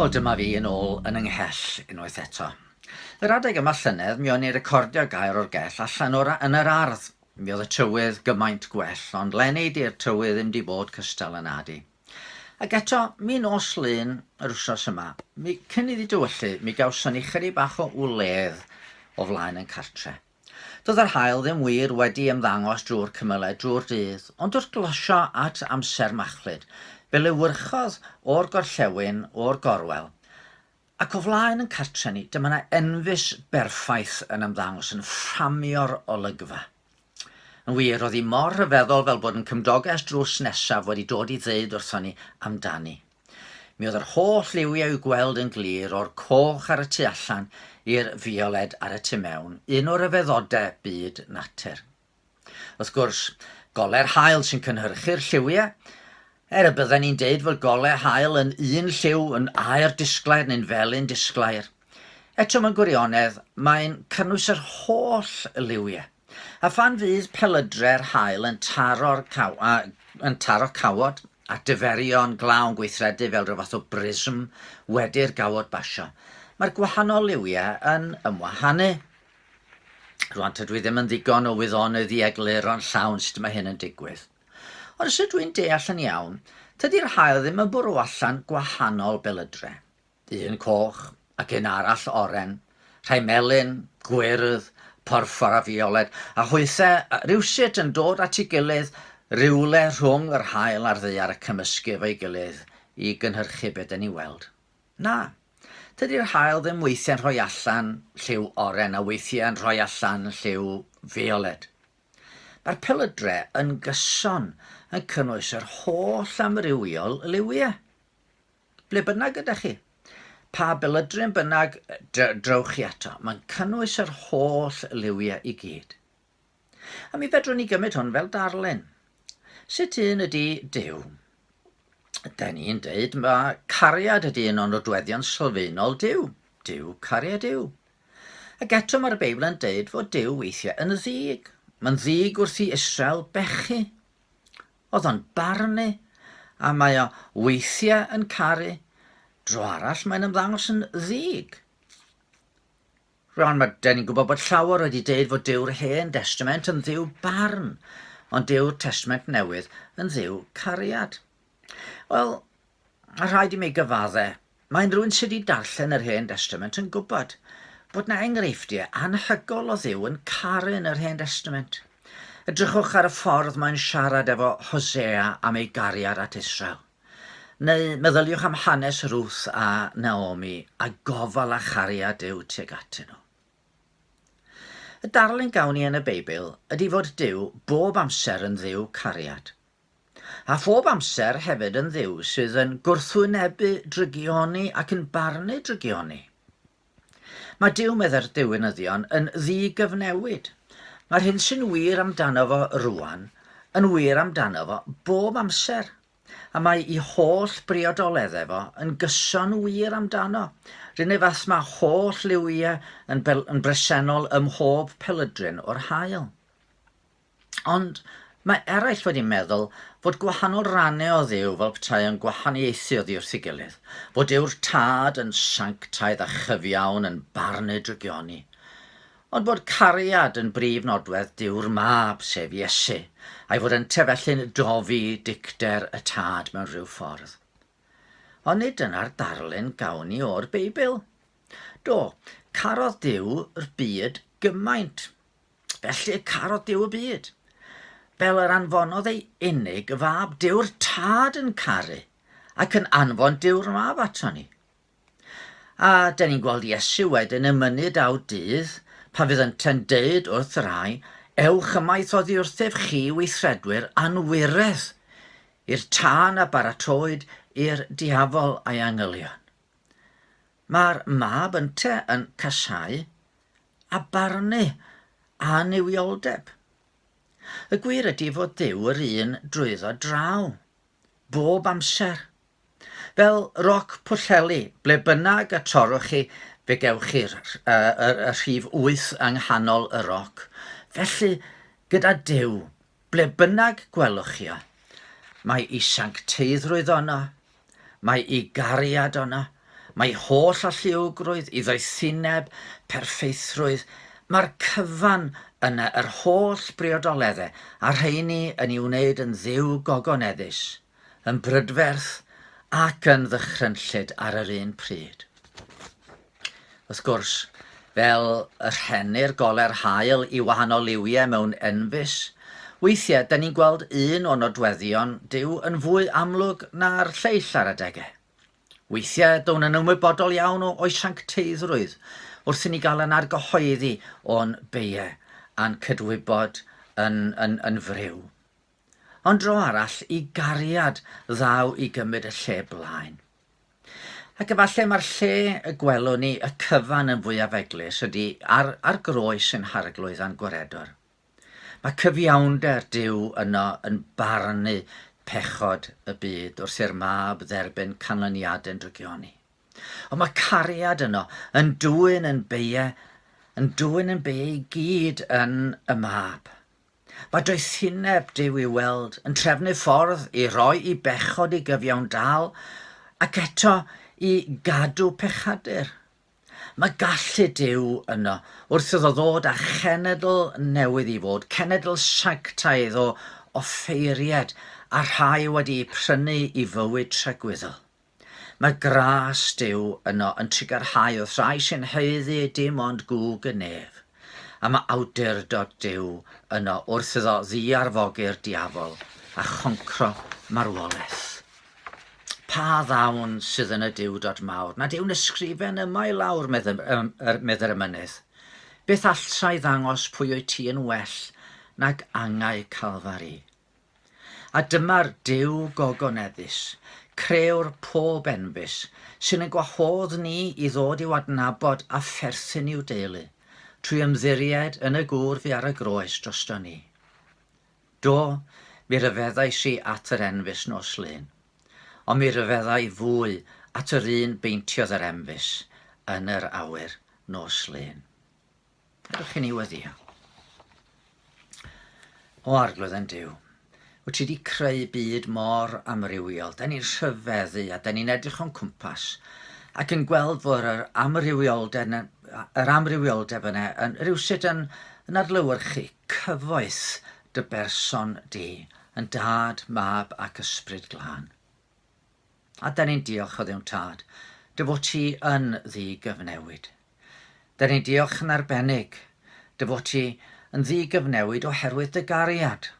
Wel, dyma fi yn ôl yn y nghell unwaith eto. Yr adeg yma llynedd, mi o'n i'n recordio gair o'r gell allan o'r yn yr ardd. Mi oedd y tywydd gymaint gwell, ond lenni di'r tywydd ddim di bod cystal yn adi. Ac eto, mi nos lun yr wsos yma, mi cyn iddi dywyllu, mi gawson ni chyri bach o wledd o flaen yn cartre. Doedd yr haul ddim wir wedi ymddangos drwy'r cymylau drwy'r dydd, ond wrth glosio at amser machlud, fe lewyrchodd o'r gorllewin, o'r gorwel, ac o flaen yn cartre ni, dyma 'na enfys berffaith yn ymddangos, yn fframio'r olygfa. Yn wir, roedd hi mor rhyfeddol fel bod yn cymdogaeth drws nesaf wedi dod i ddeud wrthon ni amdani. Mi oedd yr holl liwiau i'w gweld yn glir o'r coch ar y tu allan i'r fioled ar y tu mewn, un o ryfeddodau byd natur. Wrth gwrs, gole'r haul sy'n cynhyrchu'r lliwiau, er y bydden ni'n deud fod golau haul yn un lliw yn aer disglair neu'n felyn disglair. Eto mewn gwirionedd, mae'n cynnwys yr holl liwiau. A phan fydd pelydre'r haul yn taro'r caw- a, yn taro cawod a diferion glawn gweithredu fel rhyw fath o brism wedi'r gawod basio, mae'r gwahanol liwiau yn ymwahanu. Rwan tydw i ddim yn ddigon o wyddonydd i egluro'n llawn sut mae hyn yn digwydd. Ond os ydw i'n deall yn iawn, tydi'r haul ddim yn bwrw allan gwahanol belydre. un coch ac un arall oren, rhai melyn, gwyrdd, porffor a fiolet, a hwythe rywsut yn dod at ei gilydd rywle rhwng yr haul a'r ddaear a cymysgu efo'i gilydd i gynhyrchu be dan ni'n weld. Na, tydi'r haul ddim weithiau'n rhoi allan lliw oren a weithiau'n rhoi allan lliw fiolet. Mae'r pelydre yn gyson yn cynnwys yr holl amrywiol liwiau. Ble bynnag ydych chi, pa belydryn bynnag drewch chi ato, mae'n cynnwys yr holl liwiau i gyd. A mi fedrwn ni gymryd hwn fel darllen. Sut un ydy Dyw? Da ni'n dweud mae cariad ydy un o'n nodweddion sylfaenol Dyw. Dyw cariad yw. Ac eto mae'r Beibl yn dweud fod Dyw weithiau yn ddig. Mae'n ddig wrth i Israel bechu. oedd o'n barnu, a mae o weithiau yn caru, dro arall mae'n ymddangos yn ddig. Rwan mae dyn ni'n gwybod bod llawer wedi deud fod Dyw'r Hen Destament yn ddiw barn, ond Dyw'r Testament Newydd yn ddiw cariad. Wel, A rhaid i mi gyfadde, mae unrhywun sy di darllen yr Hen Destament yn gwybod bod na enghreifftie anhygol o Dduw yn caru yn yr Hen Destament. Edrychwch ar y ffordd mae'n siarad efo Hosea am ei gariad at Israel. Neu meddyliwch am hanes Ruth a Naomi a gofal a chariad Duw tuag atyn nhw. Y darlun gawn ni yn y Beibl ydy fod Duw bob amser yn Dduw cariad. A phob amser hefyd yn Dduw sydd yn gwrthwynebu drygioni ac yn barnu drygioni. Mae Duw, meddai'r diwinyddion, yn ddi-gyfnewid. Mae'r hyn sy'n wir amdano fo rwan yn wir amdano fo bob amser, a mae i holl briodoledd efo yn gyson wir amdano, run ei fath mae holl liwiau yn, yn bresennol ym mhob pelydryn o'r haul. Ond mae eraill wedi meddwl fod gwahanol rannau o Dduw fel petai yn gwahaniaethu oddi wrth ei gilydd, fod yw'r Tad yn sanctaidd a chyfiawn yn barn ei drygioni, ond bod cariad yn brif nodwedd Duw'r Mab, sef Iesu, a'i fod yn tefellu'n dofi dicter y Tad mewn rhyw ffordd. Ond nid dyna'r darlun gawn ni o'r Beibl. Do, carodd Duw'r byd gymaint, Felly y carodd Duw y byd. Fel yr anfonodd ei unig y fab, Duw'r tad yn caru ac yn anfon Duw'r mab ato ni. A dyn ni'n gweld Iesu wedyn yn mynnu daw dydd, pa fydd ynte'n deud wrth y rhai, ewch ymaith oddi wrthef chi weithredwyr anwiredd, i'r tân a baratoed i'r diafol a'i angylion. Mae'r mab ynte yn casáu a barnu a annuwioldeb. Y gwir ydy fod Duw yr un drwyddo draw, bob amser. Fel roc pwllheli, ble bynnag y torwch chi, fe gewch chi'r uh, rhif wyth yng nghanol y roc. Felly, gyda Duw, Ble bynnag gwelwch chi o, mae'i sancteiddrwydd ono, mae'i gariad ono, mae holl alluogrwydd, iddoethineb, perffeithrwydd, mae'r cyfan yna yr holl briodoledde a'r rheini yn i'w wneud yn Dduw gogoneddus. yn brydferth ac yn ddychrynllyd ar yr un pryd. Wrth gwrs, fel y rhennir goler haul i wahanol liwiau mewn enfys, weithiau da ni'n gweld un o nodweddion Dyw yn fwy amlwg na'r lleill ar adegau. Weithiau down yn ymwybodol iawn o o'i sancteiddrwydd wrth i ni gael yn argyhoeddi o'n beiau a'n cydwybod yn, yn, yn friw. ond dro arall i gariad ddaw i gymryd y lle blaen. Ac efallai mae'r lle y gwelwn ni y cyfan yn fwyaf eglus ydy ar, ar groes yn harglwydd a'n gwaredwr. Mae cyfiawnder Dyw yno yn barnu pechod y byd wrth i'r mab dderbyn canlyniadau'n drygioni. Ond mae cariad yno yn dwyn yn beie, yn dwyn yn beie i gyd yn y mab. Mae doethineb Duw i'w weld yn trefnu ffordd i roi i bechod i gyfiawn dal ac eto i gadw pechadur. Mae gallu Duw yno wrth iddo ddod â chenedl newydd i fod, cenedl sanctaidd o offeiriaid a rhai wedi'u prynu i fywyd tragwyddol. Mae gras Duw yno yn trigarhau wrth rai sy'n haeddu dim ond gwg y nef, a mae awdurdod Duw yno wrth iddo ddiarfogi'r diafol a choncro marwolaeth. Pa ddawn sydd yn y diwdod mawr nad yw'n ysgrifen yma i lawr, medd yr emynydd. Beth alltai ddangos pwy wyt ti yn well nag angau Calfari? A dyma'r Duw gogoneddus, Crëwr pob enfys, sy'n ein gwahodd ni i ddod i'w adnabod a pherthyn i'w deulu, trwy ymddiried yn y gŵr fu ar y groes drosto ni. Do, mi ryfeddais i at yr enfys nos Lun, ond mi ryfedda i fwy at yr un beintiodd yr enfys yn yr awyr nos Lun. Ydych chi'n ei weddïo? O arglwydd yn Duw, wyt ti wedi creu byd mor amrywiol. Da ni'n rhyfeddu a da ni'n edrych o'n cwmpas ac yn gweld bod yr amrywioldeb, yr amrywioldeb yna yn rhywsut yn, yn adlywyrchu cyfoeth dy berson di, yn dad, mab ac ysbryd glân. A da ni'n diolch o ddiwn tad, dy fod ti yn ddi gyfnewid. Dyn ni'n diolch yn arbennig dy fod ti yn ddigyfnewid oherwydd dy gariad.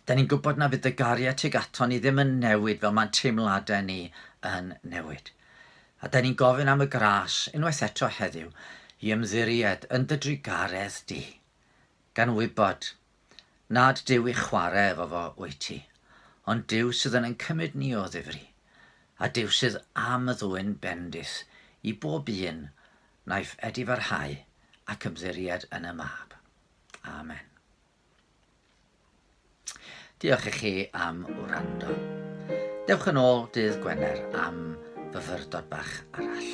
Dyn ni'n gwybod na fydd dy gariad tuag ato ni ddim yn newid fel mae'n teimladau ni yn newid. A dyn ni'n gofyn am y gras unwaith eto heddiw i ymddiried yn dy drugaredd di, gan wybod Nad Duw i chware efo fo wyt ti, ond Duw sydd yn ein cymryd ni o ddifri, a Duw sydd am y ddwyn bendith i bob un naiff edifarhau ac ymddiried yn y Mab. Amen. Diolch i chi am wrando. Dewch yn ôl dydd Gwener am fyfyrdod bach arall.